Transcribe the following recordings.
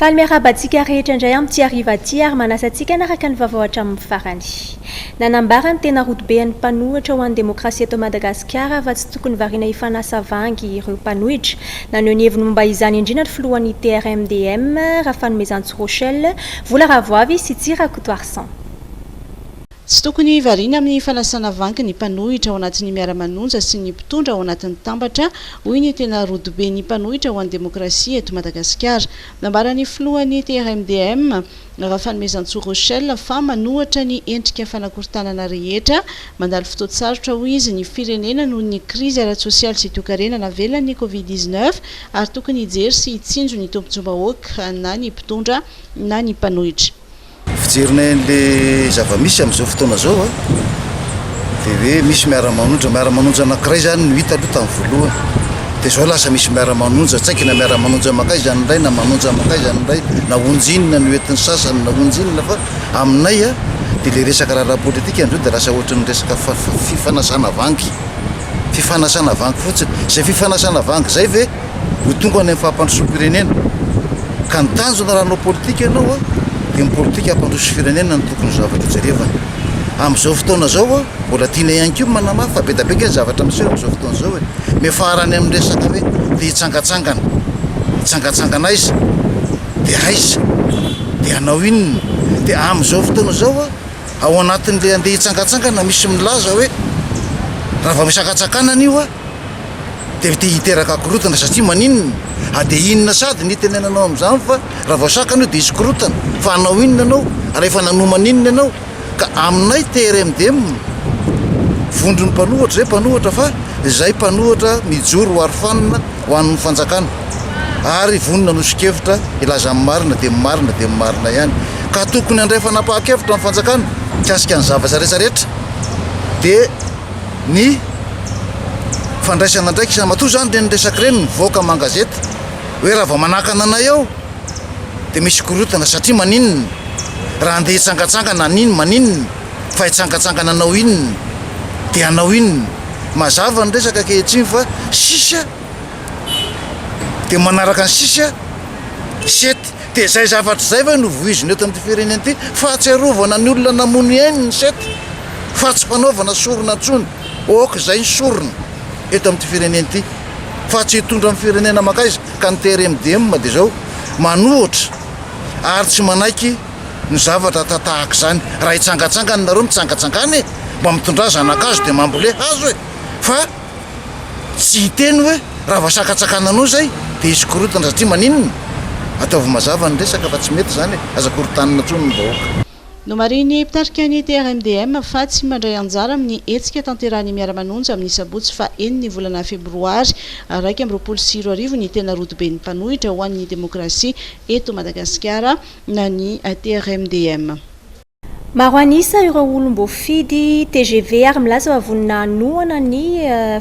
Faly miarahaba antsika rehetra indray amin'ity hariva ity ary manasa antsika hanaraka ny vaovao hatramin'ny farany. Nanambara ny tena rodobean'ny mpanohitra ho an'ny demokrasia eto Madagasikara fa tsy tokony variana hifanasa vangy ireo mpanohitra. Naneho ny heviny momba izany indrindra ny filohan'ny TRMDM, Rafanomezantso Rochel, Vola Ravoavy sy Tsy Rakotoarison. Tsy tokony variana amin'ny fanasana vangy ny mpanohitra ao anatin'ny Miara-manonja sy ny mpitondra ao anatin'ny Tambatra, hoy ny tena rodoben'ny mpanohitra ho an'ny demokrasia eto Madagasikara. Nambaran'ny filohan'ny TRMDM, Rafanomezantsoa Rochel, fa manohatra ny endrika fanakorontanana rehetra. Mandalo fotoan-tsarotra, hoy izy, ny firenena noho ny krizy ara-tsosialy sy toekarena navelan'ny Covid dix-neuf ary tokony hijery sy hitsinjo ny tompon-tsobahoaka na ny mpitondra na ny mpanohitra. Fijerinay an'ilay zava-misy amin'izao fotoana izao a, dia hoe misy miara-manonja, miara-manonja anankiray izany no hita aloha tamin'ny voalohany, dia izao lasa misy miara-manonja, tsy haiko na miara-manonja makaiza izany indray na manonja makaiza izany indray, na onjy inona no entin'ny sasany na onjy inona fa aminay a, dia ilay resaka raharaha politika amin'izao dia lasa ohatran'ny resaka fa-fa-fifanasana vangy. fifanasana vangy fotsiny. Izay fifanasana vangy izay ve ho tonga any amin'ny fampandrosoam-pirenena? Ka ny tanjona raha hanao politika ianao dia ny politika hampandroso firenena no tokony zavatra hojerevana. Amin'izao fotoana izao mbola tiana ihany koa ny manamafy fa be dia be ange ny zavatra miseho amin'izao fotoana izao e. Miafara any amin'ny resaka hoe te hitsangatsangana. Hitsangatsangana aiza? Dia aiza? Dia hanao inona? Dia amin'izao fotoana izao. Ao anatin'ilay andeha hitsangantsangana misy milaza hoe raha vao misy hankatsakanana io a dia te hiteraka akorontana satria maninona a dia inona sady ny itenenanao amin'izany fa raha vao sakana io dia hisy korotana fa hanao inona ianao ary efa nanoma an'inona ianao ka aminay TRMDM vondron'ny mpanohatra izay mpanohatra fa izay mpanohatra mijoro ho aro fanina ho an'ny fanjakana. ary vonona hanoso-kevitra hilaza ny marina dia ny marina dia ny marina ihany ka tokony handray fanapahan-kevitra ny fanjakana mikasika ny zavatra rehetra rehetra dia ny fandraisana andraikitra matoa izany ireny resaka ireny mivoaka aman-gazety hoe raha vao manakana anay eo dia misy korontana satria maninona raha andeha hitsangatsangana aniny maninona fa hitsangatsangana anao inona dia anao inona mazava ny resaka ankehitriny fa sisa dia manaraka ny sisa sept dia izay zavatra izay ve no voizina eto amin'ity firenena ity fahatsiarovana ny olona namono ny ainy ny sept fa tsy fanaovana sorona intsony ok izay ny sorona eto amin'ity firenena ity fa tsy hitondra amin'ny firenena makaiza ka ny trmdm dia izao manohotra ary tsy manaiky ny zavatra ata tahaka izany raha hitsangatsangana nareo mitsangatsangana e mba mitondra zanakazo dia mambole hazo e fa tsy hiteny hoe raha vao sakatsakana anao izay dia hisy korontana satria maninona? Ataovy mazava ny resaka fa tsy mety izany e! Aza korontanina intsony ny vahoaka. Nomarihin'ny mpitarika ny TRMDM fa tsy mandray anjara amin'ny hetsika tanterahan'ny Miara-manonja amin'ny sabotsy faha enin'ny volana febroary iraika amby roapolo sy roa arivo ny tena rodoben'ny mpanohitra ho an'ny demokrasia eto Madagasikara ny TRMDM. Maro an'isa ireo olom-boafidy tgv ary milaza fa vonona hanohana ny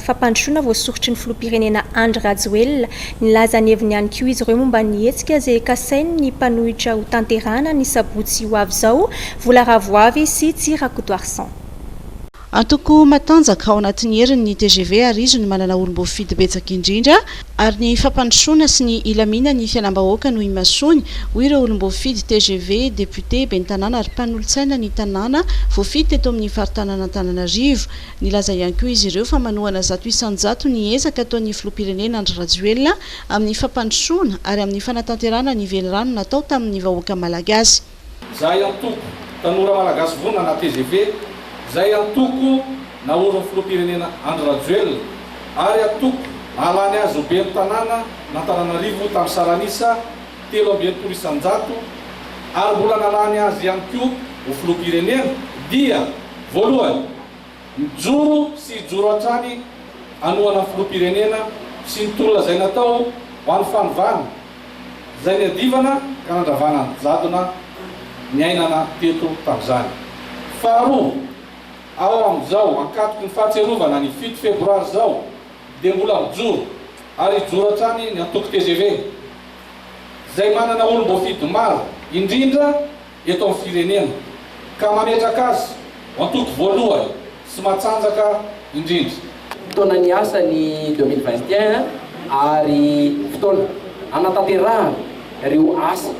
fampandrosoana voasoritry ny filoham-pirenena Andry Rajoelina. Nilaza ny heviny ihany koa izy ireo momba ny hetsika izay kasainy ny mpanohitra hotanterahana ny sabotsy ho avy izao, Vola Ravoavy sy Tsy Rakotoarison. Antoko matanjaka ao anatin'ny heriny ny tgv ary izy no manana olom-boafidy betsaka indrindra ary ny fampandrosoana sy ny hilaminan'ny fiainam-bahoaka no imasoany, hoy ireo olom-boafidy tgv, depiote, ben'ny tanàna ary mpanolotsaina ny tanàna voafidy teto amin'ny faritanan'Antananarivo. Nilaza ihany koa izy ireo fa manohana zato isan-jato ny ezaka ataon'ny filoham-pirenena Andry Rajoelina amin'ny fampandrosoana ary amin'ny fanatanterahana ny velirano natao tamin'ny vahoaka malagasy. Zay antoko tanora malagasy vonona na tgv, zay antoko naorin'ny filoham-pirenena Andry Rajoelina ary antoko nahalany azy ho ben'ny tanàna an'Antananarivo tamin'ny saran'isa telo amby enimpolo isan-jato ary mbola nahalany azy ihany koa ho filoham-pirenena dia voalohany Mijoro sy hijoro hatrany hanohana filoham-pirenena sy ny tolona izay natao ho an'ny fanovana, izay niadivana ka nandravana ny jadona niainana teto tamin'izany. Faharoa, ao amin'izao ankatoky ny fahatsiarovana ny fito febroary izao dia mbola mijoro ary hijoro hatrany ny antoko tgv izay manana olom-boafidy maro indrindra, eto amin'ny firenena ka mametraka azy ho antoko voalohany sy matanjaka indrindra. Fotoana niasa ny deux mille vingt et un ary fotoana hanatanterahana ireo asa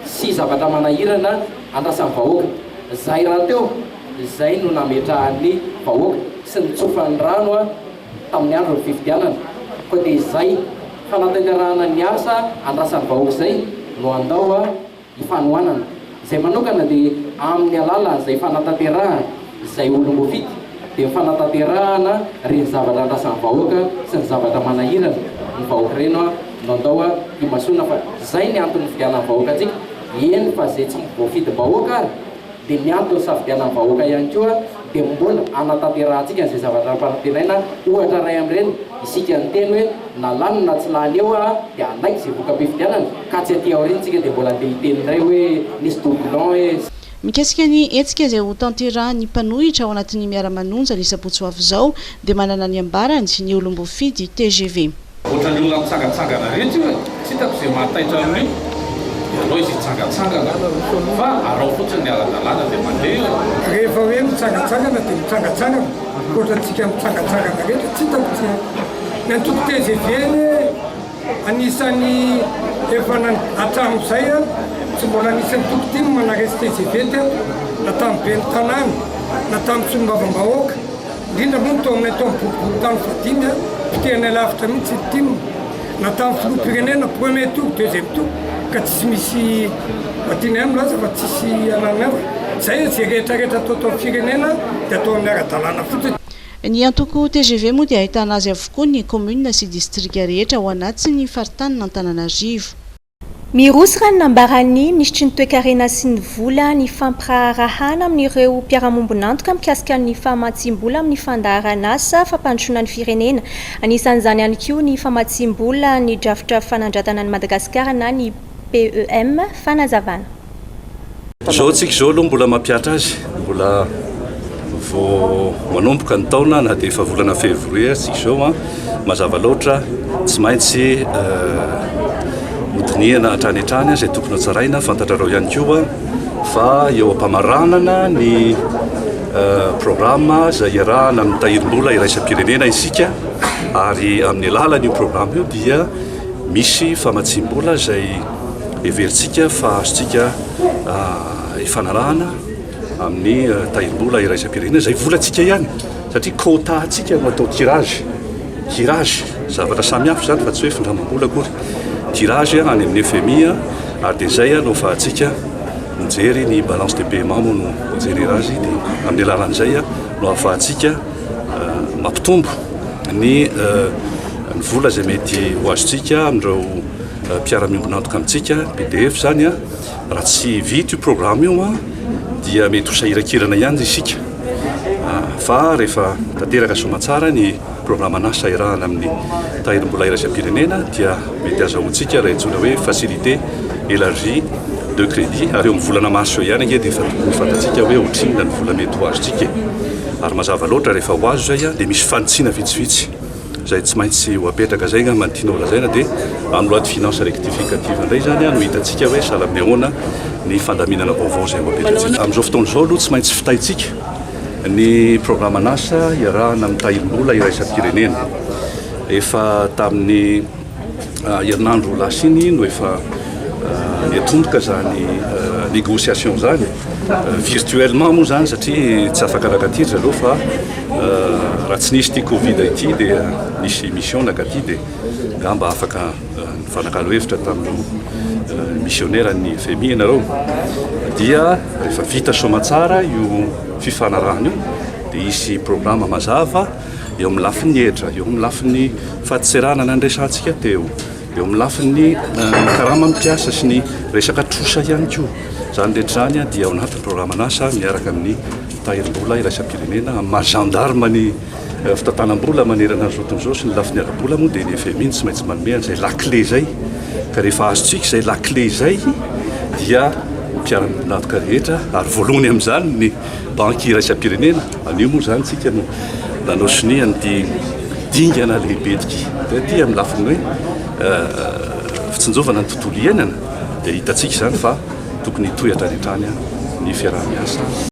sy zavatra manahirana andrasan'ny vahoaka. Zay rahateo izay no nametrahan'ny vahoaka sy nitsofan'ny rano tamin'ny andron'ny fifidianana koa dia izay hanatanterahana ny asa andrasan'ny vahoaka izay no handao. ny fanohanana izay manokana dia amin'ny alala izay fanatanterahan izay olom-boafidy dia ny fanatanterahana reny zavatra andrasan'ny vahoaka sy ny zavatra manahirana ny vahoaka ireny an no andao an himasoana fa izay ny antony nividianan'ny vahoaka antsika eny fa izay tsy voafidim-bahoaka ary dia ny antony hisafidianan'ny vahoaka ihany koa dia mbola hanatanterahantsika an'izay zavatra nampanantenaina, ohatra iray amin'ireny isika niteny hoe na lany na tsy lany eo aho dia hanaiky izay voka-pifidianana, ka tsy aty aoriana isika dia mbola andeha hiteny indray hoe nisy doublon hoe. Mikasika ny hetsika izay ho tanterahan'ny mpanohitra ao anatin'ny Miara-manonja ny sabotsy ho avy izao dia manana ny ambarany ny olom-boafidy tgv. Ohatran'ny olona mitsangatsangana rehetra io e! Tsy hitako izay mahataitra amin'io, ianao izy hitsangatsangana fa arao fotsiny ny ara-dalàna dia mandeha eo e! Rehefa hoe mitsangatsangana dia mitsangatsangana ohatrantsika mitsangatsangana rehetra, tsy hitako tsy ny antoko tgv anie anisan'ny efa hatramin'izay a! Tsy mbola nisy antoko tim manaresy tgv teto na tamin'ny ben'ny tanàna na tamin'ny solombavambahoaka. indrindra moa ny tao aminay tao amin'ny boriborintany fahadimy a, potehanay lavitra mihitsy ny tim, na tamin'ny filoham-pirenena premier tour, deuxième tour, ka tsisy misy tianay milaza fa tsisy anananay hoe zay e, zay rehetrarehetra atao tao amin'ny firenena dia atao amin'ny ara-dalàna fotsiny. Ny antoko tgv moa dia ahitana azy avokoa ny commune sy distrika rehetra ao anatin'ny faritanin'Antananarivo. Miroso raha ny nambaran'ny Minisitry ny Toekarena sy ny Vola ny fampiraharahana amin'ireo mpiara-miombon'antoka mikasika ny famatsiam-bola amin'ny fandaharan'asa fampandrosoana ny firenena, anisan'izany ihany koa ny famatsiam-bola ny drafitra fanandratana an'i Madagasikara na ny PEM, fanazavana. Izao antsika izao aloha mbola mampihatra azy, mbola vao manomboka ny taona na dia efa volana février aza isika izao an, mazava loatra tsy maintsy hodinihana hatrany hatrany izay tokony hotsaraina, fantatrareo ihany koa fa eo am-pamaranana ny programa izay iarahana amin'ny tahirim-bola iraisam-pirenena isika ary amin'ny alalan'io programa io dia misy famatsiam-bola izay Heverintsika fa azontsika ifanarahana amin'ny tahirim-bola iraisam-pirenena izay volantsika ihany satria quota-ntsika no atao tirage, tirage, zavatra samihafa izany fa tsy hoe findramam-bola akory, tirage any amin'ny FMI ary dia izay no afahantsika mijery ny balance de paiement moa no jerena azy dia amin'ny alalan'izay no afahantsika mampitombo ny vola izay mety ho azontsika amin'ireo mpiara-miombon'antoka amintsika, BDF izany, raha tsy vita io programme io dia mety ho sahiran-kirana ihany isika fa rehefa tanteraka soamantsara ny programan'asa iarahana amin'ny tahirim-bola iraisam-pirenena dia mety hazahoantsika ilay antsoina hoe facilité élargie de crédit ary eo amin'ny volana mars eo ihany ange dia efa tokony fantatsika hoe ohatrinona ny vola mety ho azontsika e. Ary mazava loatra rehefa ho azo izay dia misy fanitsiana vitsivitsy. Izay tsy maintsy ho apetraka izay angamba no tianao lazaina dia en loi de finances rectificative indray izany no hitantsika hoe sahala amin'ny ahoana ny fandaminana vaovao izay ho apetratsika. Amin'izao fotoana izao aloha tsy maintsy fitaintsika ny programan'asa iarahana amin'ny tahirim-bola iraisam-pirenena. Efa tamin'ny. Herinandro lasa iny no efa niatomboka izany négociation izany, virtuellement moa izany satria tsy afaka naka aty ry zareo fa raha tsy nisy ity Covid ity dia nisy mission naka aty dia angamba afaka nifanakalo hevitra tamin'ireo missionnaire ny FMI ianareo. Dia rehefa vita soamantsara io fifanarahana io dia hisy programa mazava eo amin'ny lafiny hetra, eo amin'ny lafiny fahadiserana na ny resantsika teo, eo amin'ny lafiny karama mpiasa sy ny resaka trosa ihany koa. Izany rehetra izany dia ao anatin'ny programan'asa miaraka amin'ny tahirim-bola iraisam-pirenena amin'ny maha gendarme ny eh, fitantanam-bola manerana ny zoton'izao sy ny lafiny ara-bola moa dia ny FMI tsy maintsy manome an'izay lakile izay. Ka rehefa azontsika izay lakile izay dia mpiara-miombon'antoka rehetra ary voalohany amin'izany ny banky iraisam-pirenena Anio moa izany isika no nanao sonia an'ity dingana lehibe ity ity amin'ny lafiny hoe fitsinjovana ny tontolo iainana dia hitantsika izany fa tokony hitohy hatrany hatrany ny fiaraha-miasa.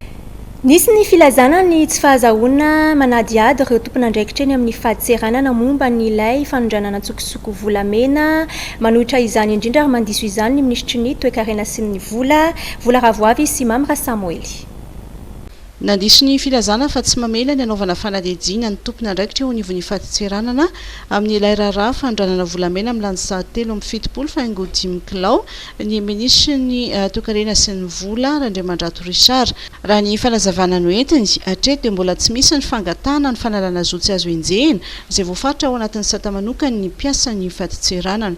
Nisy ny filazana ny tsy fahazahoana manadihady ireo tompon'andraikitra eny amin'ny fadintseranana momba ny ilay fanondranana an-tsokosoko volamena manohitra izany indrindra ary mandiso izany ny minisitry ny toekarena sy ny vola, Vola Ravoavy sy Mamy Rasamoely. Nandiso ny filazana fa tsy mamela ny hanaovana fanadihadiana ny tompon'andraikitra eo anivon'ny fadintseranana amin'ilay raharaha fanondranana volamena amin'ny lansary telo amby fitopolo fa haingo dimy kilao ny Minisitrin'ny Toekarena sy ny Vola, Randriamandrato Richard. Raha ny fanazavana noentiny, hatreto dia mbola tsy misy ny fangatahana ny fanalana zo tsy azo enjehina izay voafaritra ao anatin'ny sata manokan'ny mpiasan'ny fadintseranana.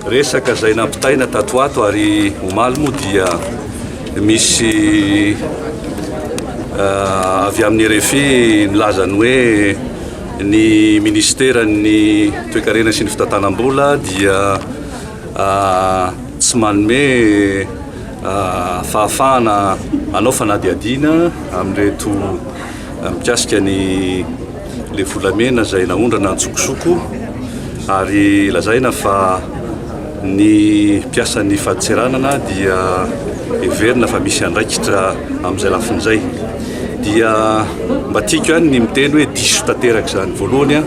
Resaka izay nampitaina tato ho ato ary omaly moa dia misy avy amin'ny RFI nilaza ny hoe ny ministeran'ny toekarena sy ny fitantanam-bola dia tsy manome fahafahana hanao fanadihadiana amin'ireto mikasika ny le volamena izay naondrana antsokosoko ary lazaina fa ny mpiasan'ny faditseranana dia heverina fa misy andraikitra amin'izay lafiny izay dia mba tiako ihany ny miteny hoe diso tanteraka izany voalohany a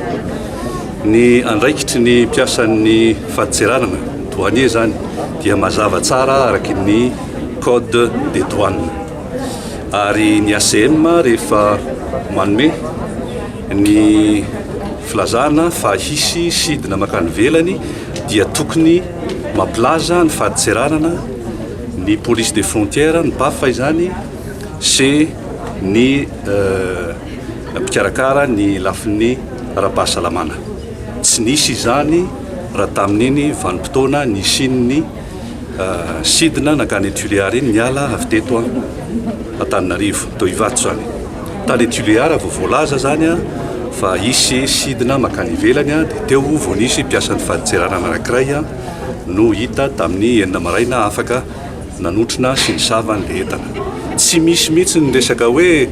ny andraikitry ny mpiasan'ny faditseranana douanier izany dia mazava tsara araka ny code des douanes ary ny ACM rehefa manome ny filazana fa hisy sidina makany ivelany dia tokony mampilaza ny fadintseranana ny police des frontières ny PAF izany sy ny mpikarakara ny lafiny ara-pahasalamana tsy nisy izany raha tamin'iny vanim-potoana nisian'ny Sidina nankany Tuléar iny niala avy teto Antananarivo. Toa Ivato izany. Tany Tuléar vao voalaza izany fa hisy sidina mankany ivelany dia teo vao nisy mpiasan'ny fadintserana anankiray no hita tamin'ny enina maraina afaka nanotrona sy nisava an'ilay entana. Tsy misy mihitsy ny resaka hoe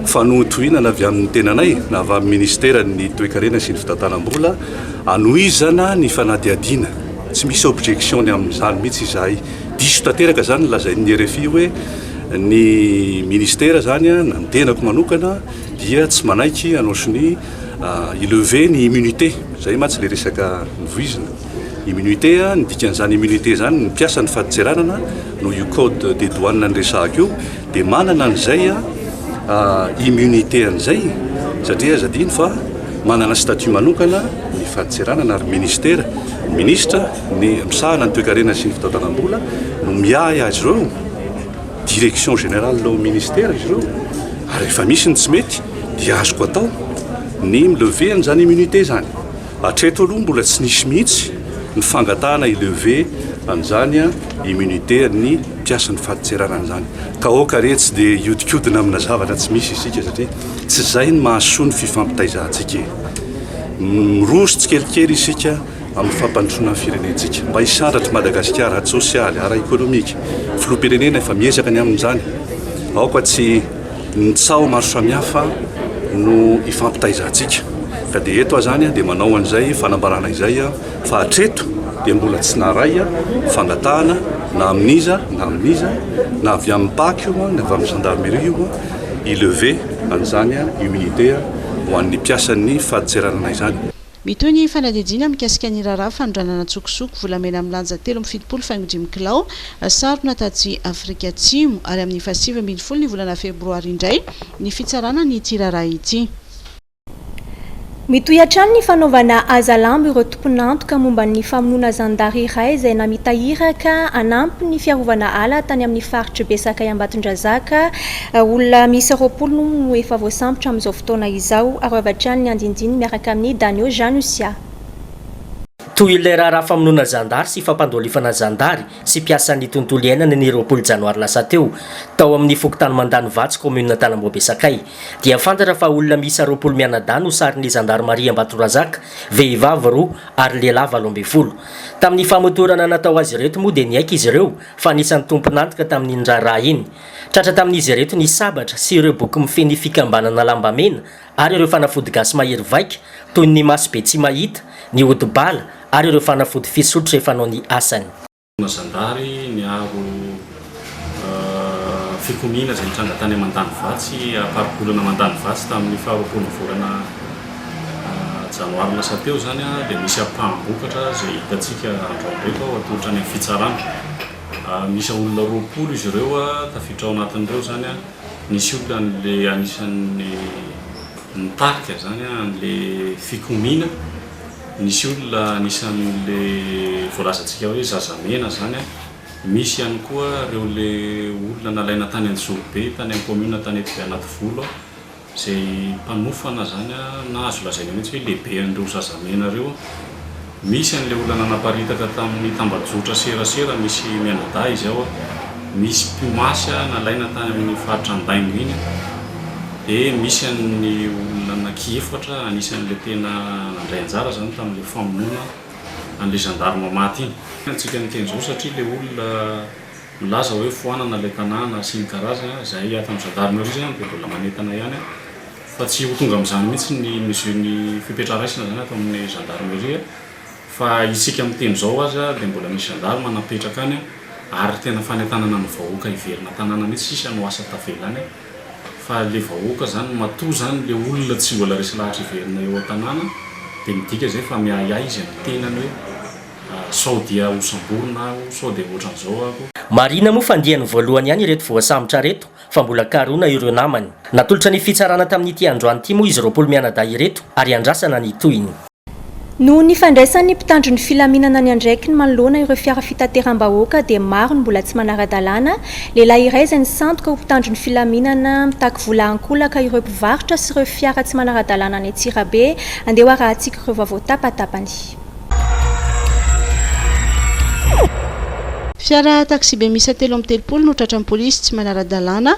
fanohintohinana avy amin'ny tenanay na avy amin'ny Ministeran'ny Toekarena sy ny Fitantanam-bola hanohizana ny fanadihadiana. Tsy misy objection ny amin'izany mihitsy izahay. Diso tanteraka izany ny lazain'ny rfi hoe ny ministera izany na ny tenako manokana dia tsy manaiky hanao sonia hi-lever ny immunité. Izay mantsy ilay resaka novoizina. Immunité, ny dikan'izany immunité izany ny mpiasan'ny fadintseranana noho io code des douanes niresahako io. Dia manana an'izay immunité an'izay satria aza adino fa manana statut manokana ny fadintseranana ary ministera, ny ministra ny misahana ny toekarena sy ny fitatanam-bola no miahy azy ireo, direction générale ao ministera izy ireo ary rehefa misy ny tsy mety dia azoko atao ny milever an'izany immunité izany. Hatreto aloha mbola tsy nisy mihitsy ny fangatahana hi-lever an'izany immunité an'ny mpiasan'ny fadintserana an'izany. Ka aoka re tsy dia hiodikodina amina zavatra tsy misy isika satria tsy izay no mahasoa ny fifampitaizantsika e. Miroso tsikelikely isika amin'ny fampandrosoana ny firenentsika mba hisandratr'i Madagasikara ara-tsosialy, ara-ekonomika. Filoham-pirenena efa miezaka ny amin'izany. Aoka tsy. Ny tsaho maro samihafa no ifampitaizantsika ka dia eto aho izany dia manao an'izay fanambarana izay fa hatreto dia mbola tsy naharay fangatahana na amin'iza na amin'iza na avy amin'ny pac io na avy amin'ny gendarmerie io hi-lever an'izany immunité ho an'ny mpiasan'ny fadintseranana izany. Mitohy ny fanadihadiana mikasika ny raharaha fanondranana an-tsokosoko volamena milanja telo amby fitopolo faingo dimy kilao sarona tatsy Afrika Atsimo, ary amin'ny fahasivy ambin'ny folo ny volana febroary indray ny fitsarana an'ity raharaha ity. Mitohy hatrany ny fanaovana hazalambo ireo tompon'antoka momba ny famonoana zandary iray izay namita iraka hanampy ny fiarovana ala tany amin'ny faritr'i Besakay Ambatondrazaka, Olona miisa roapolo moa no efa voasambotra amin'izao fotoana izao. Arovy hatrany ny andinindininy miaraka amin'ny Danio Janusia. Toy ilay raharaha famonoana zandary sy fampandolifana zandary sy mpiasan'ny tontolo iainana ny roapolo janoary lasa teo, tao amin'ny fokontany Mandanivatsy, kaominina Antanamboabe Sakay, dia fantatra fa olona miisa roapolo mianadahy no sarin'ny zandarimaria Ambatorazaka, vehivavy roa ary lehilahy valo ambin'ny folo. Tamin'ny famotorana natao azy ireto moa dia niaiky izy ireo fa anisan'ny tompon'antoka tamin'iny raharaha iny. Tratra tamin'izy ireto ny sabatra sy ireo boky mifehy ny fikambanana Lambamena ary ireo fanafody gasy mahery vaika toy ny maso be tsy mahita, ny ody bala ary ireo fanafody fisotro rehefa hanao ny asany. Fitaovana zandary niaro fikomiana izay nitranga tany Mandanivatsy am-paribolana Mandanivatsy tamin'ny faharoapolo ny volana janoary lasa teo izany dia misy ampaham-bokatra izay hitantsika androany ireto ao atolotra any amin'ny fitsarana. Miisa olona roapolo izy ireo tafiditra ao anatin'ireo izany. Nisy olona an'ilay anisan'ny nitarika izany, an'ilay fikomiana. Nisy olona anisan'ilay voalazantsika hoe zazamena izany. Misy ihany koa ireo ilay olona nalaina tany Anjozorobe, tany amin'ny kaominina tany Anativolo. Izay mpanofana izany na azo lazaina mihitsy hoe lehibe an'ireo zazamena ireo. Misy an'ilay olona nanaparitaka tamin'ny tambajotra serasera misy mianadahy izao. Misy mpimasy nalaina tany amin'ny faritra Andaingo iny. Dia misy an'ny olona anaky efatra anisan'ilay tena nandray anjara izany tamin'ilay famonoana an'ilay zandarima maty iny. Antsika miteny izao satria ilay olona Milaza hoe foanana ilay tanàna sy ny karazany an, izahay ato amin'ny gendarmerie izany dia mbola manentana ihany an, fa tsy ho tonga amin'izany mihitsy ny mesure ny fepetra raisina izany ato amin'ny gendarmerie fa isika miteny izao aza dia mbola misy gendarme napetraka any an, ary tena fanentanana ny vahoaka hiverina tanàna mihitsy sisa no asa tavela any an, fa ilay vahoaka izany matoa izany ilay olona tsy mbola resy lahatra hiverina eo an-tanàna dia midika izay fa miahiahy izay mitenany hoe. Sao dia ho samborina aho, sao dia ohatran'izao aho. Marihina moa fa andiany voalohany ihany ireto voasambotra ireto fa mbola karohina ireo namany. Natolotra ny fitsarana tamin'ity androany ity moa izy roapolo mianadahy ireto ary andrasana ny tohiny. Noho ny fandraisan'ny mpitandro ny filaminana ny andraikiny manoloana ireo fiara fitateram-bahoaka dia maro ny mbola tsy manara-dalàna, lehilahy iray izay nisandoka ho mpitandro ny filaminana mitaky vola ankolaka ireo mpivarotra sy ireo fiara tsy manara-dalàna any Antsirabe, andeha hoarahantsika ireo vaovao tapatapany. Fiara taksibe miisa telo amby telopolo no tratran'ny polisy tsy manara-dalàna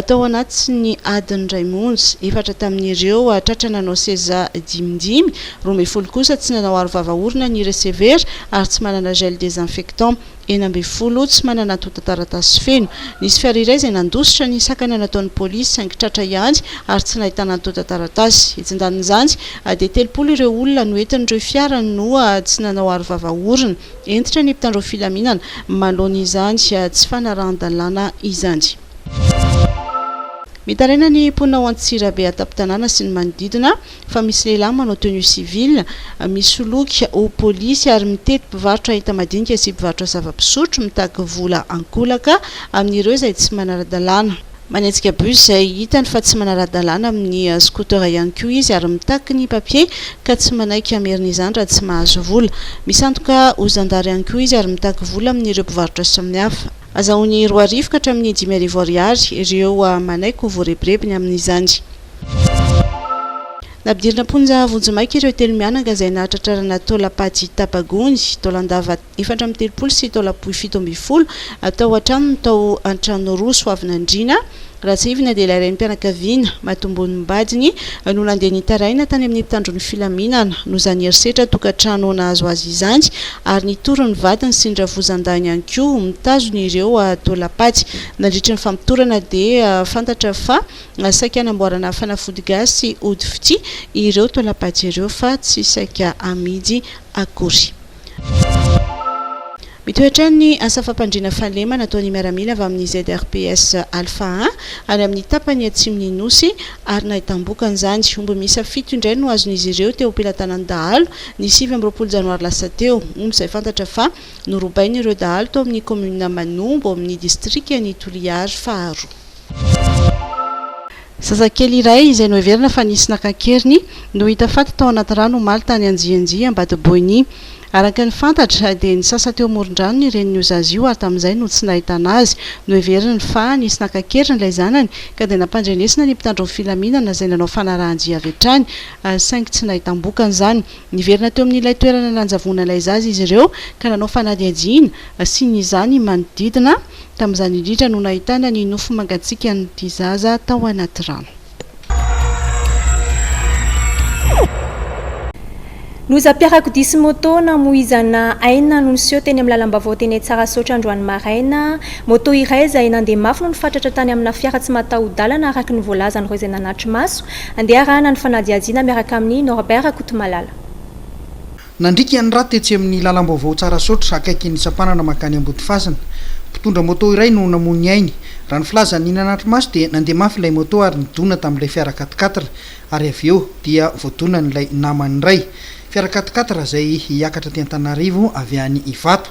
tao anatin'ny adiny iray monja. Efatra tamin'ireo tratra nanao seza dimidimy, roa ambin'ny folo kosa tsy nanao arovava orona niresevera ary tsy manana gel désinfectant. enina ambin'ny folo tsy manana antontan-taratasy feno. Nisy fiara iray izay nandositra ny sakana nataon'ny polisy saingy tratra ihany ary tsy nahitana antontan-taratasy. Etsy an-danin'izany dia telopolo ireo olona noentin'ireo fiara no tsy nanao arovava orona. Hentitra ny mpitandro filaminana manoloana izany tsy fanarahan-dalàna izany. Mitaraina ny mponina ao Antsirabe an-tampon-tanàna sy ny manodidina. fa misy lehilahy manao tenue civile misoloky ho polisy ary mitety mpivarotra enta-madinika sy mpivarotra zava-pisotro mitaky vola ankolaka amin'ireo izay tsy manara-dalàna. Manetsika bus izay hitany fa tsy manara-dalàna amin'ny scooter ihany koa izy ary mitaky ny papier ka tsy manaiky hamerina izany raha tsy mahazo vola. Misandoka ho zandary ihany koa izy ary mitaky vola amin'ireo mpivarotra samihafa. Hazahoany roa arivo ka hatramin'ny dimy arivo ariary ireo manaiky ho voarebirebiny amin'izany. Nampidirina am-ponja vonjimaika ireo telo mianaka izay nahatratrarana taolam-paty tapa-gony, taolan-dava efatra amby telopolo sy taolam-pohy fito ambin'ny folo tao an-tranony tao Antranoros, Hoavinandriana, Ratsirivina dia ilay renim-pianakaviana, matombon'ny vadiny, no nandeha nitaraina tany amin'ny mpitandron'ny filaminana, noho izany herisetra tokantrano nahazo azy izany, ary nitory ny vadiny sy ny ravozandahiny ihany koa ho mitazona ireo taolam-paty. Nandritry ny famotorana dia fantatra fa saika hanamboarana fanafody gasy ody fitia ireo taolam-paty ireo fa tsy saika hamidy akory. Mitohy hatrany ny asa fampandriana fahalemana ataon'ny miaramila avy amin'ny ZRPS Alpha I any amin'ny tapany atsimon'ny Nosy ary nahitam-bokany izany. Omby miisa fito indray no azon'izy ireo teo am-pelatanan'ny dahalo ny sivy amby roapolo janoary lasa teo. Omby izay fantatra fa norobain'ireo dahalo tao amin'ny kaominina Manombo ao amin'ny distrikan'i Toliara faharoa. Zazakely iray izay noheverina fa nisy naka an-keriny no hita faty tao anaty rano omaly tany Anjianjia, Ambatoboiny. Araka ny fantatra dia nisasa teo amoron-drano ny renin'io zaza io ary tamin'izay no tsy nahitana azy. Noheveriny fa nisy naka an-keriny ilay zanany ka dia nampandrenesina ny mpitandro ny filaminana izay nanao fanarahan-dia avy hatrany saingy tsy nahitam-bokany izany. Niverina teo amin'ilay toerana nanjavona ilay zaza izy ireo ka nanao fanadihadiana sy ny izany manodidina Tamin'izany indrindra no nahitana ny nofy mangatsiakan'ity zaza tao anaty rano. Lozam-piarakodia sy moto namoizana aina no niseho teny amin'ny lalam-baovao teny Antsahasaotra androany maraina. Moto iray izay nandeha mafy no nifatratra tany amina fiara tsy mataho-dalana araka ny voalazan'ireo izay nanatri-maso. Andeha arahana ny fanadihadiana miaraka amin'i Norbert Rakotomalala. Nandriaka ny raha tetsy amin'ny lalam-baovao Tsarasaotra akaikin'ny sampanana mankany Ambodifasina. Mpitondra moto iray no namoy ny ainy. Raha ny filazan'i Nina Natrimaso dia nandeha mafy ilay moto ary nidona tamin'ilay fiara quat-quatre ary avy eo dia voadonan'ilay namany iray fiara quat-quatre izay hiakatra aty Antananarivo avy any Ivato.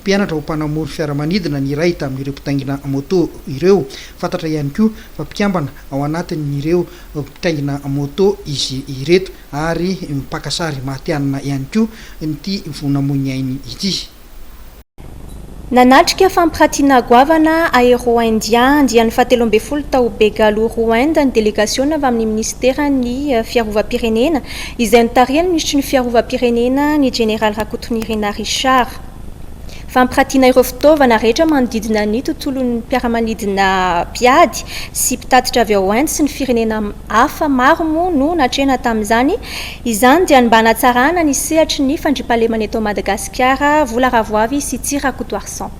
Mpianatra ho mpanamory fiaramanidina ny iray tamin'ireo mpitaingina moto ireo. Fantatra ihany koa fa mpikambana ao anatin'ireo mpitaingina moto izy ireto ary mpaka sary matihanina ihany koa ity vao namoy ny ainy ity. Nanatrika fampiratiana goavana Aero India andiany fahatelo ambin'ny folo tao Begaluru, Inde, ny delegasiona avy amin'ny minisiteran'ny Fiarovam-pirenena, izay notarihan'ny minisitry ny Fiarovam-pirenena, ny jeneraly Rakotonirinà Richard. Fampiratiana ireo fitaovana rehetra manodidina ny tontolon'ny mpiara-manidina mpiady sy mpitatitra avy ao Inde sy ny firenena hafa maro moa no natrehina tamin'izany. Izany dia ny mba hanatsarana ny sehatry ny fandriampahalemana eto Madagasikara, Vola Ravoavy sy Tsy Rakotoarison.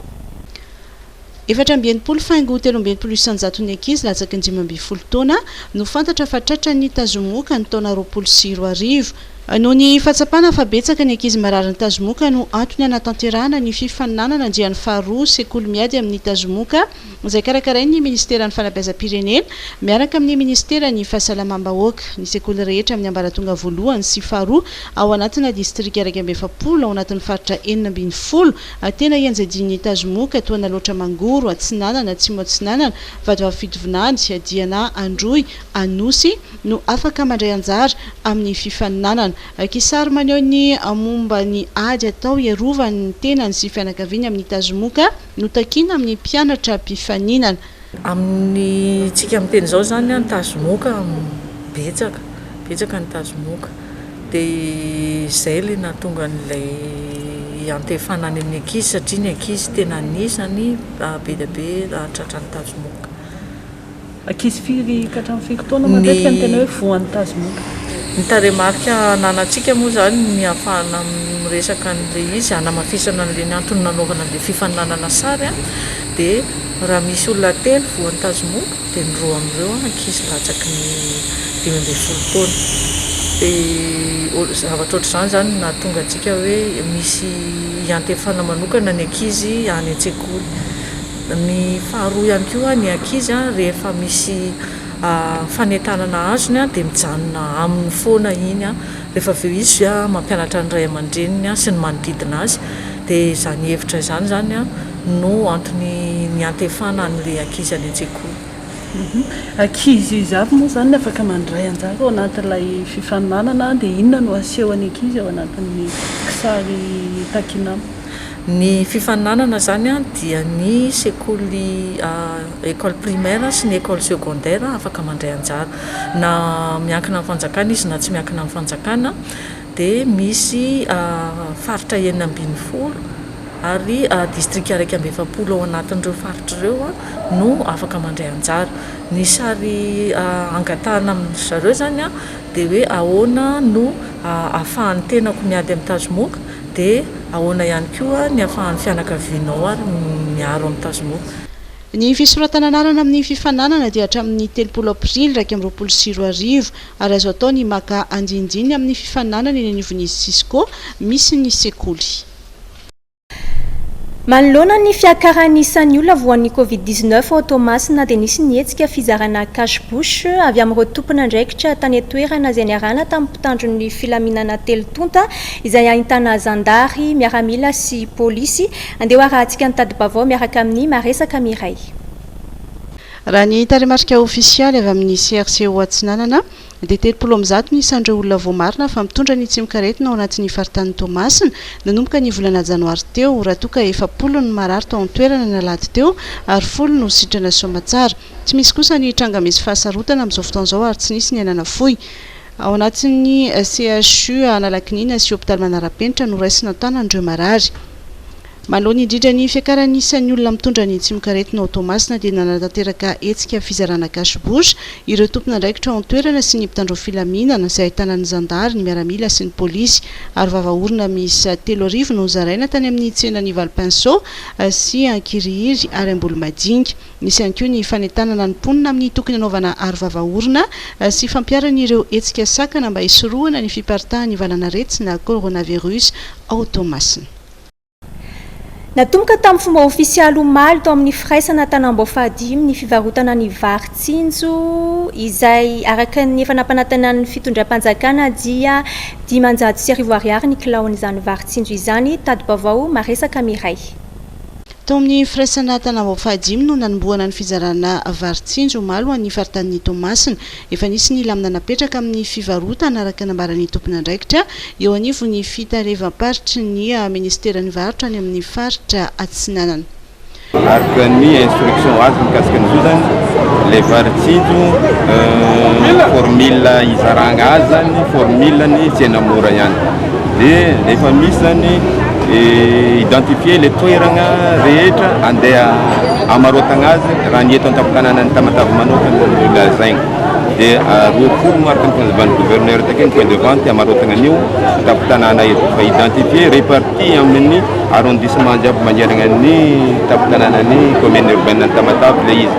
Efatra amby enimpolo faingo telo amby enimpolo isan-jaton'ny ankizy latsaky ny dimy ambin'ny folo taona no fantatra fa tratran'ny tazomoka ny taona roapolo sy roa arivo. Noho ny fahatsapana fa betsaka ny ankizy mararin'ny tazomoka no antony hanatanterahana ny fifaninanana andiany faharoa Sekoly miady amin'ny tazomoka izay karakarain'ny Ministeran'ny Fanabeazam-pirenena miaraka amin'ny Ministeran'ny Fahasalamam-bahoaka ny sekoly rehetra amin'ny ambaratonga voalohany sy faharoa ao anatina distrika iraika amby efapolo ao anatin'ny faritra enina ambin'ny folo A Tena ianjadian'ny tazomoka toa naloatra Mangoro atsinanana atsimo atsinanana Vadoavy fitovinany Diana Androy Anosy no afaka mandray anjara amin'ny fifaninanana A Kisary maneho ny momba ny ady atao hiarovany ny tenany sy fianakaviany amin'ny tazomoka no takiana amin'ny mpianatra mpifaninana. Amintsika miteny izao izany ny tazomoka betsaka, betsaka ny tazomoka de izay ilay nahatonga an'ilay hiantefana any amin'ny ankizy satria ny ankizy tena anisany be dia be tratra ny tazomoka. Ankizy firy ka hatramin'ny firy taona matetika no tena hoe voan'ny tazomoka? Ny tarehimarika ananantsika moa izany ny ahafahana miresaka an'ilay izy hanamafisana an'ilay ny antony nanaovana an'ilay fifaninanana sary dia Raha misy olona telo voan'ny tazomoba dia ny roa amin'ireo ankizy latsaky ny dimy ambin'ny folo taona. Dia zavatra ohatr'izany izany no nahatonga antsika hoe misy iantefana manokana ny ankizy any an-tsekoly. Ny faharoa ihany koa ny ankizy rehefa misy fanentanana azony dia mijanona aminy foana iny rehefa avy eo izy mampianatra ny ray aman-dreniny sy ny manodidina azy. Dia izany hevitra izany izany an. no antony niantefana an'ilay ankizy any an-tsekoly. Ankizy izy avy moa izany no afaka mandray anjara ao anatin'ilay fifaninanana dia inona no asehon'ny ankizy ao anatin'ny kisary Takinama? Ny fifaninanana izany dia ny sekoly école primaire sy ny école secondaire afaka mandray anjara na miankina amin'ny fanjakana izy na tsy miankina amin'ny fanjakana. dia misy faritra enina ambin'ny folo ary distrika iraika amby efapolo ao anatin'ireo faritra ireo no afaka mandray anjara. Ny sary angatahana amin-dry zareo izany dia hoe ahoana no ahafahan'ny tenako miady amin'ny tazomoka dia ahoana ihany koa ny ahafahan'ny fianakavianao ary miaro amin'ny tazomoka. Ny fisoratana anarana amin'ny fifaninanana dia hatramin'ny telopolo aprily iraika amby roapolo sy roa arivo. Ary azo atao ny maka andinindinin'ny amin'ny fifaninanana eny anivon'izy Cisco misy ny sekoly. Manoloana ny fiakaran'ny isan'ny olona voan'ny Covid dix neuf ao Toamasina dia nisy ny hetsika fizarana cache bouche avy amin'ireo tompon'andraikitra tany an-toerana izay niarahana tamin'ny mpitandro ny filaminana telo tonta izay ahintana zandary, miaramila sy polisy. Andeha ho arahantsika ny tadi-baovao miaraka amin'i Maresaka Mireille. Raha ny tarehimarika ofisialy avy amin'ny CRCO Atsinanana dia telopolo amin'ny zato ny isan'ireo olona voamarina fa mitondra ny tsimok'aretina ao anatin'ny faritanin'i Toamasina nanomboka ny volana janoary teo raha toa ka efapolo ny marary tao an-toerana ny alahady teo ary folo no sitrana soamatsara. Tsy misy kosa ny tranga misy fahasarotana amin'izao fotoana izao ary tsy nisy ny nanafoy ao anatin'ny CHU Analakiniana sy hopitaly manara-penitra noraisina an-tanan'ireo marary. Manoloana indrindra ny fiakaran'ny isan'ny olona mitondra ny tsimokaretina ao Toamasina dia nanatanteraka hetsika fizarana cash bouche ireo tompon'andraikitra ao an-toerana sy ny mpitandro filaminana izay ahitana ny zandary, ny miaramila sy ny polisy. Ary vava orona miisa telo arivo no zaraina tany amin'ny tsenan'i Valpinceau sy Ankirihiry ary Ambolomajinga. Nisy ihany koa ny fanentanana ny mponina amin'ny tokony hanaovana aro vava orona sy fampiharana ireo hetsika sakana mba hisorohana ny fiparitahan'ny valan'aretina coronavirus ao Toamasina. Natomboka tamin'ny fomba ofisialy omaly tao amin'ny firaisana Tanambao fahadimy ny fivarotana ny vary tsinjo izay araka ny efa nampanatenan'ny fitondram-panjakana dia dimanjato sy arivo ariary ny kilaon'izany vary tsinjo izany, tadi-baovao maresaka miray. Tao amin'ny firaisana Tanambao fahadimy no nanombohana ny fizarana vary tsinjo omaly ho an'ny faritanin'i Toamasina. Efa nisy ny lamina napetraka amin'ny fivarotana araka ny nambaran'ny tompon'andraikitra eo anivon'ny fitalevam-paritry ny minisiteran'ny varotra any amin'ny faritra Atsinanana. Araka ny instruction azo mikasika ny zozany, ilay vary tsinjo, ny formule izaragna azy zany, formule ny tsena mora ihany. Dia rehefa misy izany identifier ilay toerana rehetra andeha hamaroatana azy raha ny eto an-tampon-tanànan'i Tamatave manokana no lazaina. Dia roapolo no araka ny fanazavan'ny gouverneur takeo ny point de vente hamaroatana an'io tampon-tanàna io. Fa identifier, reparti amin'ny arrondissement jiaby manerana ny tampon-tanànan'ny commune urbaine an'i Tamatave ilay izy.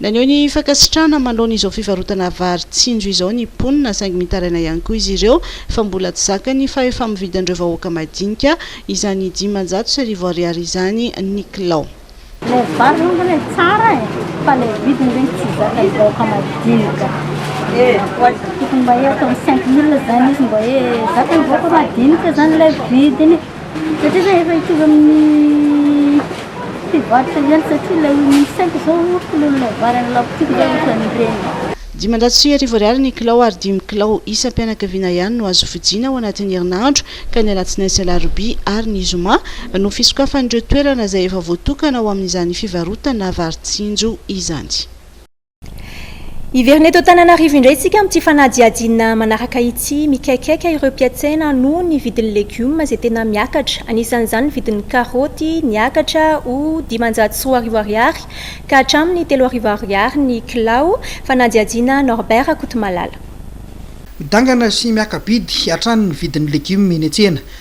Naneho ny fankasitrahana manoloana izao fivarotana vary tsinjo izao ny mponina saingy mitaraina ihany koa izy ireo fa mbola tsy zaka ny fahefa-mividin'ireo vahoaka madinika izany dimanjato sy arivo ariary izany ny kilao. Ilay vary aloha angamba ilay tsara e, fa ilay vidiny ve no tsy zakan'ny vahoaka madinika? Tokony mba hoe ataony cinq mille izany izy mba hoe zakan'ny vahoaka madinika izany ilay vidiny. Satria zay efa hitovy amin'ny fivarotra ihany satria ilay oignon cinq zao kilon'ilay vary any la boutique zao ohatran'ireny. Dimanjato sy arivo ariary ny kilao ary dimy kilao isam-pianakaviana ihany no azo vidiana ao anatin'ny herinandro ka ny alatsinainy sy alarobia ary ny zoma no fisokafan'ireo toerana izay efa voatokana ho amin'izany fivarotana vary tsinjo izany. Hiverina eto Antananarivo indray isika amin'ity fanadihadiana manaraka ity. Mikaikaika ireo mpiatsena noho ny vidin'ny legioma izay tena miakatra. Anisan'izany ny vidin'ny karaoty, niakatra ho dimanjato sy roa arivo ariary ka hatramin'ny telo arivo ariary ny kilao. Fanadihadiana Norbert Rakotomalala. Midangana sy miaka-bidy hatrany ny vidin'ny legioma eny an-tsena.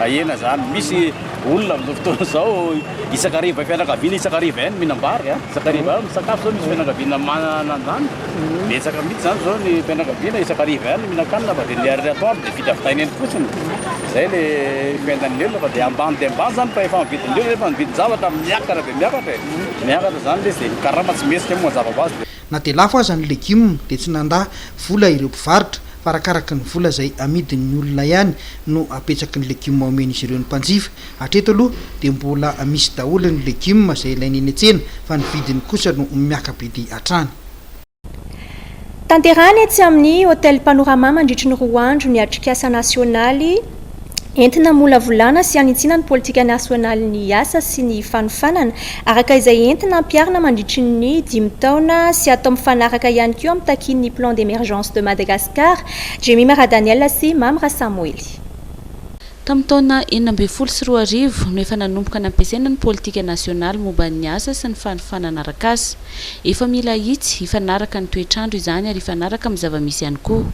Ahena zany, misy olona amin'izao fotoana izao isaka hariva fianakaviana isaka hariva ihany mihinam-bary a, isaka hariva ihany misakafo, zao misy fianakaviana manana an'izany, betsaka mihitsy zany zao ny fianakaviana isaka hariva ihany mihinan-kanina fa dia ny ary atoandro dia vita avy taina eny fotsiny, zay le fiainan'ny olona fa dia ambany dia ambany zany fa efa ny vidin'olona efa ny vidin-javatra miakatra dia miakatra e, miakatra zany le izy dia ny karama tsy mihesika moa mazava ho azy. Na dia lafo aza ny legioma dia tsy nandà vola ireo mpivarotra fa arakaraky ny vola izay amidin'ny olona ihany no apetsaky ny legioma omen'izy ireo ny mpanjifa. Hatreto aloha dia mbola misy daholo ny legioma izay ilaina eny an-tsena fa ny vidiny kosa no miaka-bidy hatrany. Tanterahana etsy amin'ny Hotel Panorama mandritry ny roa andro ny atrikasa nasionaly Entina hamolavolana sy hanitsiana ny politika nasionalin'ny asa sy ny fanofanana, araka izay entina ampiharina mandritry ny dimy taona sy atao mifanaraka ihany koa amin'ny takian'ny Plan d'Emergence de Madagascar, Jemimara Daniel sy Mamy Rasamoely. Tamin'ny taona enina ambin'ny folo sy roa arivo no efa nanomboka nampiasaina ny politika nasionaly momba ny asa sy ny fanofanana arak'asa. Efa mila ahitsy, hifanaraka ny toetr'andro izany ary hifanaraka amin'ny zava-misy ihany koa.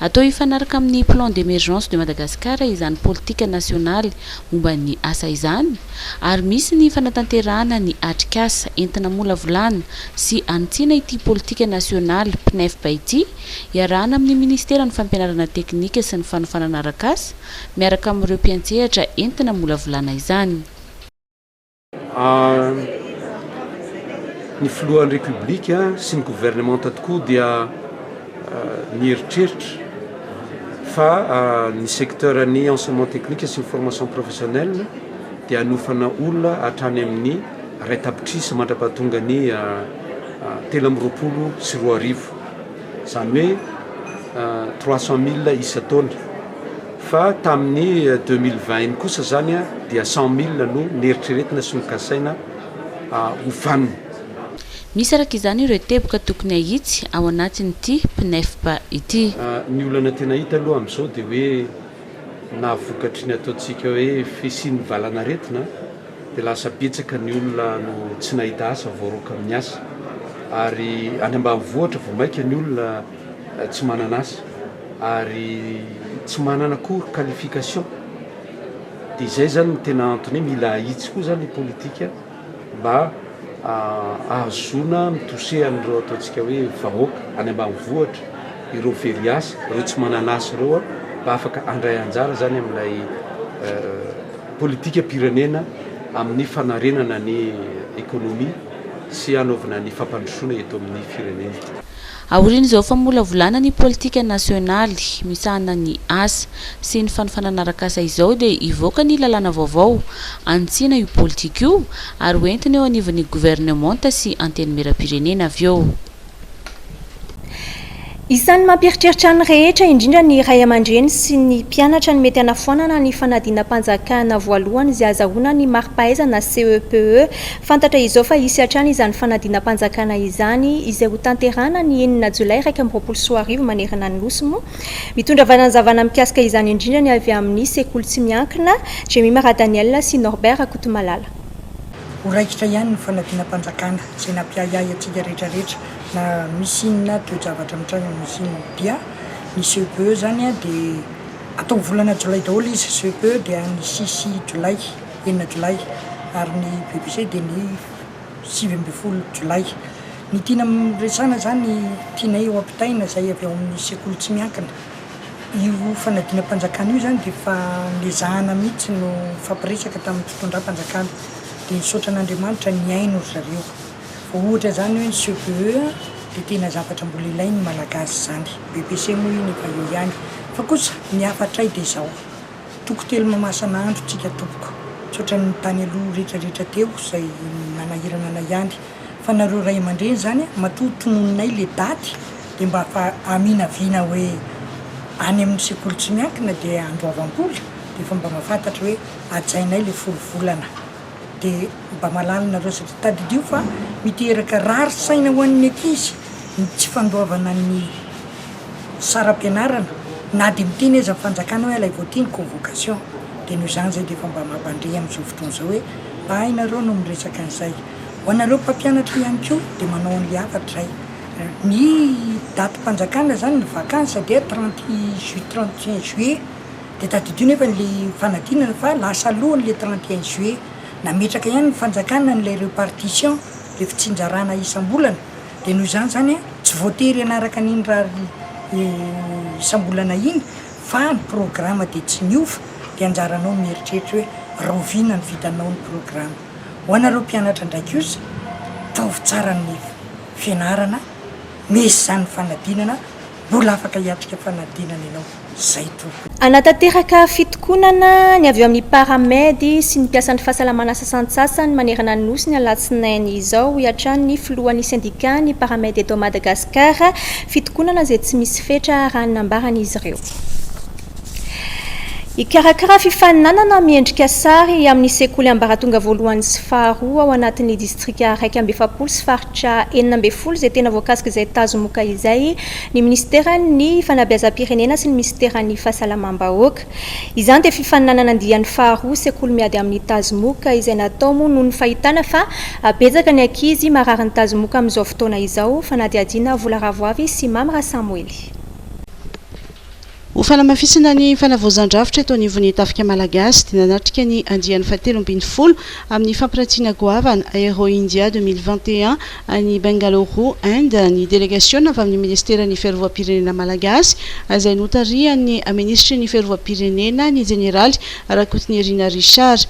Atao hifanaraka amin'ny Plan d'Emergence de Madagascar izany politika nasionaly momba ny asa izany ary misy ny fanatanterahana ny atrikasa entina-molavolana sy hanitsiana ity politika nasionaly PNEFP ity iarahana amin'ny Ministeran'ny Fampianarana Teknika sy ny Fanofanana Arakasa miaraka amin'ireo mpiantsehatra entina-molavolana izany. Ny filohan'ny Repoblika sy ny governemanta tokoa dia nieritreritra fa ny secteur ny enseignement technique sy ny formation professionnelle dia hanofana olona hatrany amin'ny iray tapitrisa mandrapahatonga ny telo amby roapolo sy roa arivo, izany hoe trois cent mille isan-taona. Fa tamin'ny deux mille vingt iny kosa izany dia cent mille no neritreretina sy nokasaina ho vanona. Misy araka izany ireo teboka tokony hahitsy ao anatin'ity PNEFP ity. Ny olana tena hita aloha amin'izao dia hoe na vokatry ny ataontsika hoe fisian'ny valan'aretina dia lasa betsaka ny olona no tsy nahita asa voaroaka amin'ny asa. Ary any ambanivohitra vao maika ny olona tsy manana asa. ary tsy manana akory qualification dia izay zany no tena antony hoe mila ahitsy koa zany ny politika mba ahazoana mitose an'ireo ataontsika hoe vahoaka any ambanivohitra ireo very asa ireo tsy manana asa ireo a mba afaka handray anjara zany amin'ilay euh, politika pirenena amin'ny fanarenana ny économie sy hanaovana ny fampandrosoana eto amin'ny firenena. Aorian'izao famolavolana ny politika nasionaly misahana ny asa sy ny fanofanana arak'asa izao dia hivoaka ny lalàna vaovao hanitsiana io politika io ary hoentina eo anivon'ny governemanta sy Antenimierampirenena avy eo. Isan'ny mampieritreritra ny rehetra, indrindra ny ray aman-dreny sy ny mpianatra ny mety hanafoanana ny fanadinam-panjakana voalohany izay azahoana ny mari-pahaizana CEPE Fantatra izao fa hisy hatrany izany fanadinam-panjakana izany izay ho tanterahana ny enina jolay iraika amby roapolo sy roa arivo manerana ny Nosy moa. Mitondra fanazavana mikasika izany indrindra ny avy amin'ny sekoly tsy miankina, Jemima Radaniel sy Norbert Rakotomalala. Ho raikitra ihany ny fanadinam-panjakana izay nampiahiahy antsika rehetra rehetra na misy inona toe-javatra mitranga amin'ny Nosy inona dia ny CEPE izany dia atao volana jolay daholo izy, CEPE dia ny six jolay. enina jolay ary ny bbc dia ny sivy ambin'ny folo jolay. Ny tiana resahana izany tianay ho ampitaina izay avy ao amin'ny sekoly tsy miankina. Io fanadinam-panjakana io izany dia efa nezahana mihitsy no nifampiresaka tamin'ny fitondram-panjakana dia nisaotra an'Andriamanitra nihaino ry zareo. Vao ohatra izany hoe ny CPE dia tena zavatra mbola ilain'ny Malagasy izany. Bbc moa iny efa eo ihany fa kosa ny hafatray dia izao. Toko telo mamasana andro tsika tompoko tsotra ny tany aloha rehetra rehetra teo zay nanahirana anay ihany fa nareo ray amandreny zany matoa tononinay le daty de mba fa aminaviana hoe any aminy sekoly tsy miankina de androavam-bola de efa mba mafantatra hoe ajainay le folo volana De mba malaly nareo satria tadidio fa miteraka rary saina ho an'ny ankizy ny tsy fandoavana ny saram-pianarana na de miteny aza ny fanjakana hoe alaivo aty ny convocation de noho izany zay de efa mba mampandre amin'izao fotoana izao hoe ay nareo no miresaka an'izay. Ho anareo mpampianatra ihany koa de manao an'le hafatra zay. Ny datim-panjakana zany ny vacances dia trente ju- trente et un juillet. Dia tadidio nefa an'ilay fanadinana fa lasa alohany ilay trente et un juillet. Nametraka ihany ny fanjakana an'ilay repartition, ilay fitsinjarana isam-bolana, dia noho izany izany an, tsy voatery hanaraka an'iny rary isam-bolana iny fa ny programa dia tsy miova, dia anjaranao ny mieritreritra hoe rahoviana ny vitanao ny programa. Ho anareo mpianatra indray kosa, ataovy tsara ny fianarana, meso izany ny fanadinana, Mbola afaka hiatrika fanadinana ianao izay tompoko. Hanatanteraka fitokonana ny avy eo amin'ny Paramed sy ny mpiasan'ny fahasalamana sasantsasany manerana ny Nosy ny alatsinainy izao, hoy hatrany ny filohan'ny sendikàn'ny Paramed eto Madagasikara, fitokonana izay tsy misy fetra raha ny nambaran'izy ireo. Hikarakara fifaninanana miendrika sary amin'ny sekoly ambaratonga voalohany sy faharoa ao anatin'ny distrika iraika amby efapolo sy faritra enina ambin'ny folo izay tena voakasik'izay tazomoka izay ny minisiteran'ny Fanabeazam-pirenena sy ny minisiteran'ny Fahasalamam-bahoaka. Izany dia fifaninanana andiany faharoa sekoly miady amin'ny tazomoka izay natao moa noho ny fahitana fa betsaka ny ankizy marary ny tazomoka amin'izao fotoana izao, fanadihadiana Vola Ravoavy sy Mamy Rasamoely. Ho fanamafisana ny fanavaozan-drafitra eto anivon'ny Tafika Malagasy dia nanatrika ny andiany fahatelo ambin'ny folo amin'ny fampirantiana goavana Aero India deux mille vingt et un any Bengaluru, Inde ny delegasiona avy amin'ny Ministeran'ny Fiarovam-pirenena Malagasy izay notarihan'ny Minisitry ny Fiarovam-pirenena ny Jeneraly Rakotonirina Richard.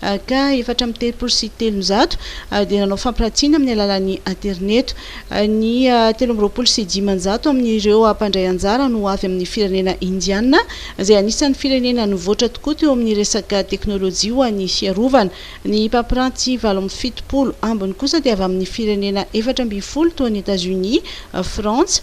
Ak. Efatra amby telopolo sy telonjato dia nanao fampiratiana amin'ny alalan'ny aterineto. Ny telo amby roapolo sy dimanjato amin'ireo mpandray anjara no avy amin'ny firenena Indiana, izay anisan'ny firenena nivoatra tokoa teo amin'ny resaka teknolojia ho an'ny fiarovana. Ny mpampiranty valo amby fitopolo ambiny kosa dia avy amin'ny firenena efatra ambin'ny folo toa an'i Etazonia, Frantsa,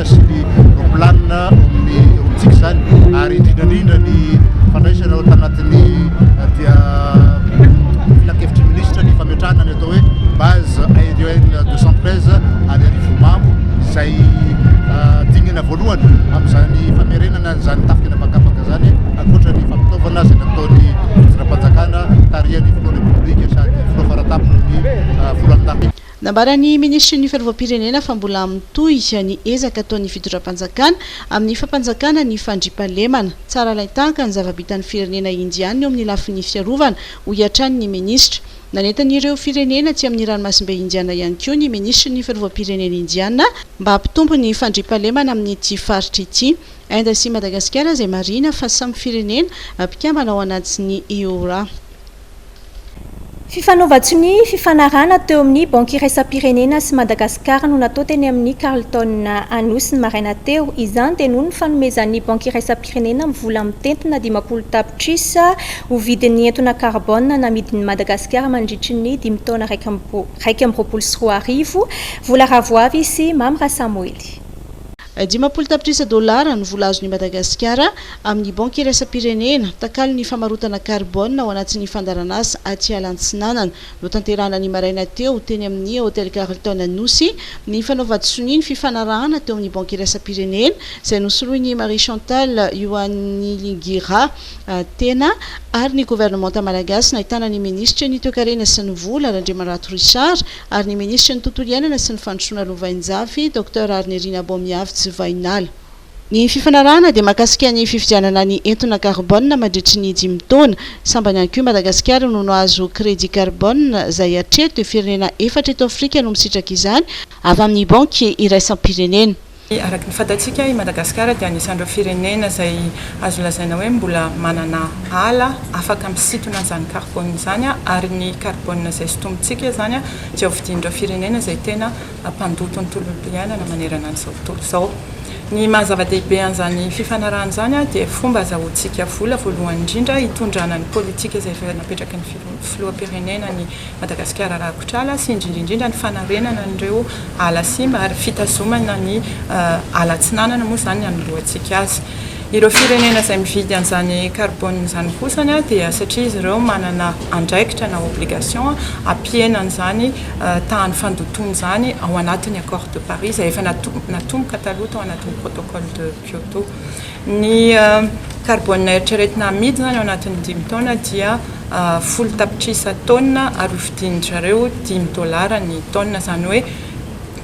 sy ny planina ao amin'ny eo amintsika izany ary indrindra indrindra ny fandraisana ao tanatin'ny eh, dia filankevitry minisitra ny fametrahana ny atao hoe base aérienne 213 any arivomamo izay eh, dingana voalohany amin'izany famerenana izany tafika na pakapaka izany ankoatra ny fampitaovana izay nataony zira-panjakana tarihan'ny filoha republika sady filoha faratapony ny eh, folo amin'ny tafika Nambaran'ny minisitry ny Fiarovam-pirenena fa mbola mitohy ny ezaka ataon'ny fitondram-panjakana amin'ny fampanjakana ny fandriampahalemana. Tsara alain-tahaka ny zava-bitan'ny firenena Indiana eo amin'ny lafiny fiarovana, hoy hatrany ny minisitra. Nanentana ireo firenena atsy amin'ny ranomasimbe Indiana ihany koa ny minisitry ny Fiarovam-pirenena Indiana mba hampitombo ny fandriampahalemana amin'ity faritra ity. Inde sy Madagasikara izay marihina fa samy firenena mpikambana ao anatin'ny IORA. Fifanaovan-tsonia, fifanarahana teo amin'ny Banky Iraisam-pirenena sy Madagasikara no natao teny amin'ny Carlton Anosy ny maraina teo. Izany dia noho ny fanomezan'ny Banky Iraisam-pirenena ny vola mitentina dimampolo tapitrisa ho vidin'ny entona karbona namidin'i Madagasikara mandritry ny dimy taona iraika amby roapolo sy roa arivo, Vola Ravoavy sy Mamy Rasamoely. Dimampolo tapitrisa dolara no vola azon'i Madagasikara amin'ny Banky iraisam-pirenena takalon'ny famarotana karbona ao anatin'ny fandaharanasa Atiala Antsinanana. Notanterahina ny maraina teo, teny amin'ny Hotel Carlton Anosy, ny fanaovan-tsonia ny fifanarahana teo amin'ny Banky iraisam-pirenena, izay nosoloin'i Marie Chantal Yohaniligira Tena, ary ny governemanta malagasy nahitana ny minisitry ny Toekarena sy ny vola, Randriamarato Richard, ary ny minisitry ny Tontolo iainana sy ny fandrosoana lovainjafy, Docteur Arinirina Bomiavitsy Vahinala. Ny fifanarahana dia mahakasika ny fividianana ny entona karbona mandritry ny dimy taona. Sambany ihany koa i Madagasikara no nahazo crédit carbone, izay hatreto dia firenena efatra eto Afrika no misitraka izany, avy amin'ny Banky iraisam-pirenena. Araka ny fantatsika, i Madagasikara dia anisan'ireo firenena izay azo lazaina hoe mbola manana ala afaka misintona izany karbôna izany, ary ny karbôna izay sintomintsika izany dia hovidian'ireo firenena izay tena mpandoto ny tontolo iainana manerana an'izao tontolo izao. Ny maha zava-dehibe an'izany fifanarahana izany dia fomba azahoantsika vola voalohany indrindra hitondrana ny pôlitika izay efa napetraky ny filoham-pirenena ny Madagasikara Rakotr'ala sy indrindra indrindra ny fanarenana an'ireo ala simba ary fitazomana ny ala atsinanana moa izany ny anoloantsika azy. Ireo firenena izay mividy an'izany carbone izany kosany dia satria izy ireo manana andraikitra na obligation hampihena an'izany tahan'ny fandotoana izany ao anatin'ny accord de Paris izay efa natomboka taloha tao anatin'ny protocole de Kyoto. Ny karbônina eritreretina hamidy izany ao anatin'ny dimy taona dia folo tapitrisa taonina ary hofidian-dry zareo dimy dôlara ny taonina, izany hoe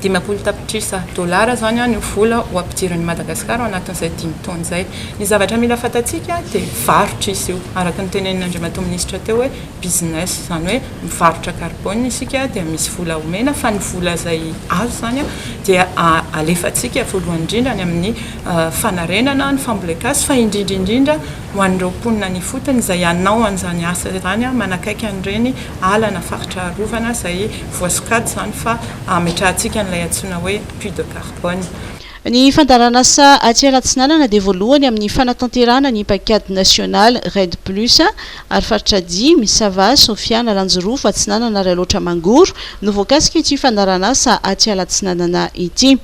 dimampolo tapitrisa dôlara izany no vola ho ampidirin'i Madagasikara ao anatin'izay dimy taona izay. Ny zavatra mila fantatsika dia varotra izy io, araka ny tenenin'Andriamatoa Minisitra teo hoe business, izany hoe mivarotra karbônina isika dia misy vola omena fa ny vola izay azo izany dia alefantsika voalohany indrindra any amin'ny fanarenana ny fambolen-kazo fa indrindra indrindra ho an'ireo mponina any ifotony izay hanao an'izany asa izany manakaiky an'ireny ala na faritra arovana izay voasokajy izany fa hametrahantsika an'ilay antsoina hoe puits de carbone. Ny fandaharan'asa aty Alatsinanana dia voalohany amin'ny fanatanterahana ny paikady nasionaly REDD plus ary faritra dimy, Sava, Sofia, Analanjirofo, Atsinanana ary Alaotra Mangoro, no voakasika ity fandaharan'asa aty Alatsinanana ity.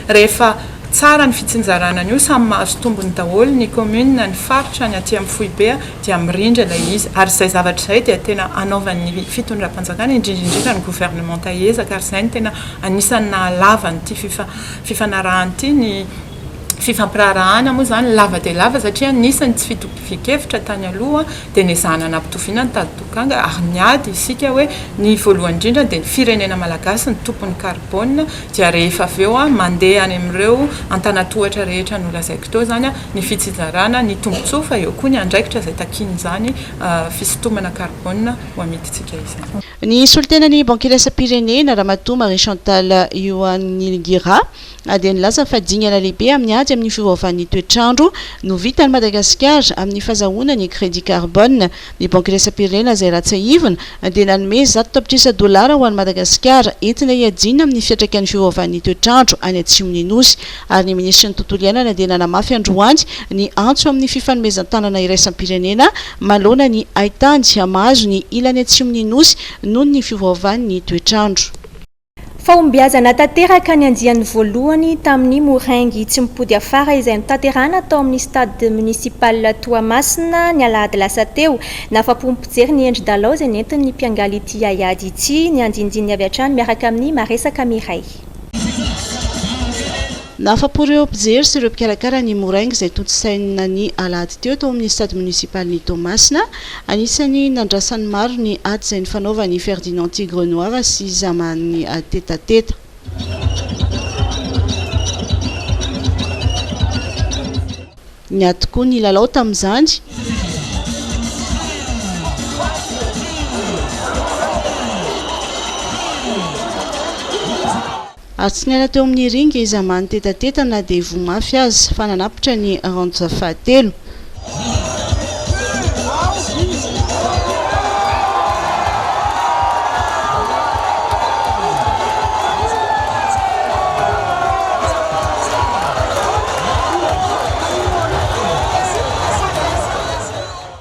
Rehefa tsara ny fitsinjarana an'io, samy mahazo tombony daholo ny commune, ny faritra, ny aty amin'ny foibe dia mirindra ilay izy. Ary izay zavatra izay dia tena anaovan'ny fitondram-panjakana, indrindra indrindra ny gouvernementa ezaka ary izay no tena anisan'ny nahalava an'ity fifanarahana ity, ny fifampiraharahana moa izany lava dia lava satria nisy ny tsy fitovian-kevitra tany aloha, dia nezahana nampitoviana ny tady tokanga ary niady isika hoe ny voalohany indrindra dia ny firenena malagasy no tompon'ny carbone dia rehefa avy eo mandeha any amin'ireo antanatohatra rehetra nolazaiko teo izany ny fitsinjarana ny tombotsoa fa eo koa ny andraikitra izay takian'izany fisintomana carbone ho amidintsika izany. Nisolo tena ny bankilasam-pirenena, Ramatoa Marie Chantal Ioanilgira, Na dia nilaza fa dingana lehibe amin'ny ady amin'ny fiovaovan'ny toetr'andro no vitan'i Madagasikara amin'ny fazahoana ny crédit carbone, ny Banky Iraisam-pirenena izay ratsiahivina dia nanome zato tapitrisa dolara ho an'i Madagasikara entina hiadiana amin'ny fiantraikan'ny fiovaovan'ny toetr'andro any atsimon'ny Nosy ary ny Minisitry ny Tontolo Iainana dia nanamafy androany ny antso amin'ny fifanomezan-tanana iraisam-pirenena manoloana ny haitany mahazo ny ilany atsimon'ny Nosy noho ny fiovaovan'ny toetr'andro. Fahombiazana tanteraka ny andiany voalohany tamin'ny Moraingy tsy mipody afara izay notanterahana tao amin'ny Stade Municipal Toamasina ny alahady lasa teo. Nahafa-po ny mpijery ny endri-dalao izay nentin'ny mpiangaly ity haiady ity, ny andinindininy avy hatrany miaraka amin'ny maresaka miray. Nahafapo ireo mpijery sy ireo mpikarakara ny Moraingy izay tontosaina ny alahady teo tao amin'ny Stade Municipalin'i Toamasina. Anisan'ny nandrasan'ny maro ny ady izay nifanaovan'i Ferdinand Tigre Noir sy Zaman Tetateta. Niato koa ny lalao tamin'izany. Ary tsy niala teo amin'ny ringa izy aman tetateta na dia voa mafy aza fa nanapitra ny round fahatelo.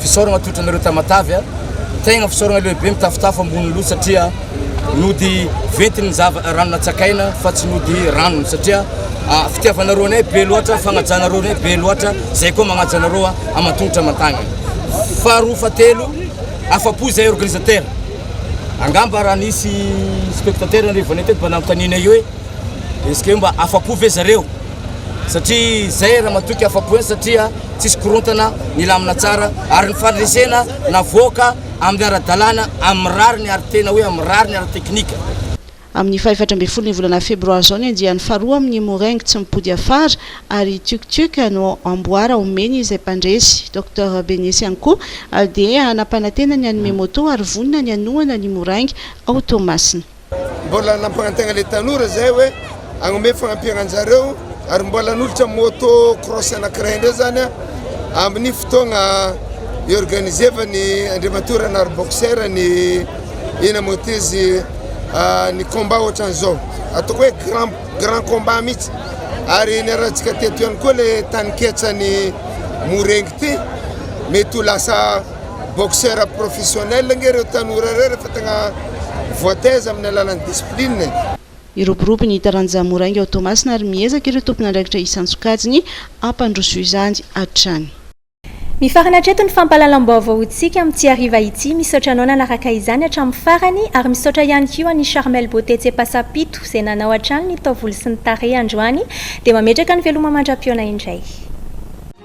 Fisaoragna toetra anareo Tamatave a! Tegna fisaoragna lehibe mitafotafo ambony loha satria nody ventin'ny zava rano natsakaina fa tsy nody ranony satria fitiavanareo anay be loatra, fagnajanareo anay be loatra, zay koa magnaja anareo a aman-tongotra aman-tagnana. Faharoa fahatelo, afa-po zahay organisateur, angamba raha nisy spectateur nirevanay teto mba nanontanianay hoe est-ce que mba afa-po ve zareo satria zay raha matoky afa-po satria tsisy korontana, nilamina tsara ary ny fandresena navoaka amin'ny ara-dalàna, amin'ny rariny ary tena hoe amin'ny rariny ara-teknika. Amin'ny fahefatra ambin'ny folon'ny volana febroary izao ny andiany faharoa amin'ny Meringue tsy mipody afara ary Tiuk Tiuk no amboara omeny izay mpandresy, Docteur Benesy Anko dia hanampanantena ny hanome moto ary vonona ny hanohana ny Moraingy ao Toamasina. Mbola nampanantena ilay tanora izay hoe hanome fanampiana anjareo ary mbola hanolotra moto cross anankiray indray izany amin'ny fotoagna iorganisevan'ny Andriamatoa Renard Boxer ny eny Amotezy ny combat ohatran'izao ataoko hoe grand grand combat mihitsy ary niarahantsika teto ihany koa ilay taninketsan'ny Morengy ity mety ho lasa Boxeur professionnel ange ireo tanora ireo rehefa tegna voataiza amin'ny alalan'ny discipline e! Hiroborobo ny taranja moraingy ao Toamasina ary miezaka ireo tompon'andraikitra isan-tsokajiny hampandroso izany hatrany. Mifarana hatreto ny fampahalalam-baovaontsika amin'ity hariva ity, misaotra anao nanaraka izany hatramin'ny farany, ary misaotra ihany koa an'i Charmel Beauté Tsepasapito izay nanao hatrany ny taovolo sy ny tarehy androany, dia mametraka ny veloma mandra-pihaona indray.